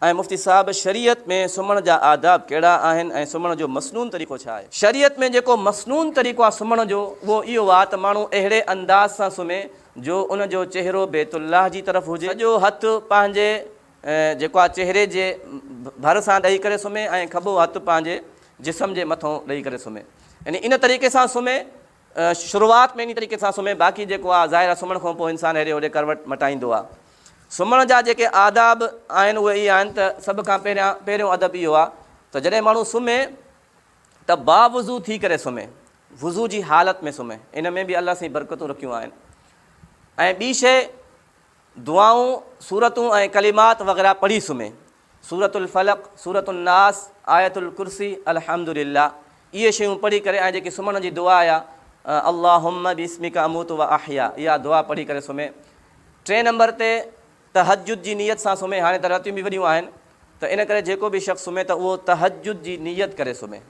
۽ مفتي صاحب شريعت ۾ سمهڻ جا آداب ڪهڙا آهن ۽ سمهڻ جو مسنون طريقو ڇا آهي؟ شريعت ۾ جيڪو مسنون طريقو آهي سمهڻ جو اهو اهو آهي ته ماڻهو اهڙي انداز سان سمهي جو ان جو چهرو بيت الله جي طرف هجي، سڄو هٿ پنهنجي جيڪو آهي چهري جي ڀر سان ڏئي ڪري سمهي ۽ کٻو هٿ پنهنجي جسم جي مٿو ڏئي ڪري سمهي يعني ان طريقي سان سمهي شروعات ۾ انهي طريقي سان سمهي باقي جيڪو آ ظاهر آ سمهڻ کان پوء انسان هيڏي هوڏي ڪروٽ مٽائيندو آ. سمهڻ جا جيڪي آداب آهن اهي اهي آهن ته سڀ کان پهريان پهريون ادب اهو آ ته جڏهن ماڻهو سمهي ته باوضو ٿي ڪري سمهي وضو جي حالت ۾ سمهي ان ۾ به الله سائين برڪتون رکيون آهن ۽ ٻي شيء دعائون سورتون ۽ ڪلمات وغيره پڙهي سمهي سورة الفلق، سورة الناس، آية الڪرسي، الحمدلله، اهي شيون پڙهي ڪري ۽ جيڪي سمهڻ جي دعا آهي، اللهم باسمک اموت و احيا، اها دعا پڙهي ڪري سمهي. ٽئين نمبر تي تهجد جي نيت سان سمهي، هاڻي ته راتيون به وڏيون آهن ته ان ڪري جيڪو به شخص سمهي ته اهو تهجد جي نيت ڪري سمهي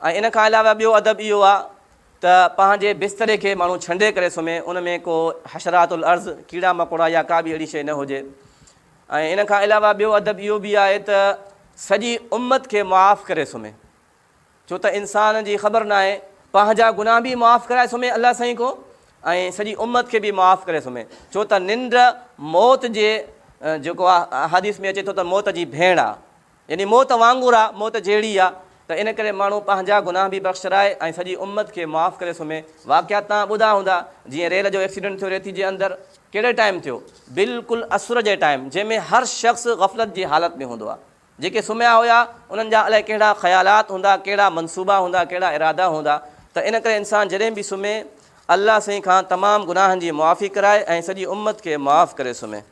۽ ان کان علاوه ٻيو ادب اهو آهي ته پنهنجي بستري کي ماڻهو ڇنڊي ڪري سمهي، ان ۾ ڪو حشرات الارض، ڪيڙا مڪوڙا يا ڪا به اهڙي شيء نه هجي. ۽ ان کان علاوه ٻيو ادب اهو به آهي ته سڄي امت کي معاف ڪري سمهي ڇو ته انسان جي خبر ناهي پنهنجا گناهه به معاف ڪرائي سمهي الله سائين ڪو ۽ سڄي امت کي به معاف ڪري سمهي ڇو ته ننڊ موت جي جيڪو آهي حديث ۾ اچي ٿو ته موت جي ڀيڻ آهي. يعني موت وانگر آ، موت جهڙي آ، ته ان ڪري ماڻهو پنهنجا گناهه به بخشرائي ۽ سڄي امت کي معاف ڪري سمهي. واقعات توهان ٻڌا هوندا، جيئن ريل جو ايڪسيڊنٽ ٿيو ريتي جي اندر، ڪهڙي ٽائيم ٿيو، بلڪل عصر جي ٽائيم، جنهن ۾ هر شخص غفلت جي حالت ۾ هوندو آ. جيڪي سمهيا هيا، انهن جا الائي ڪهڙا خيالات هوندا، ڪهڙا منصوبا هوندا، ڪهڙا ارادا هوندا، ته ان ڪري انسان جڏهن به سمهي، الله سائين کان تمام گناهن جي معافي ڪرائي ۽ سڄي امت کي معاف ڪري سمهي.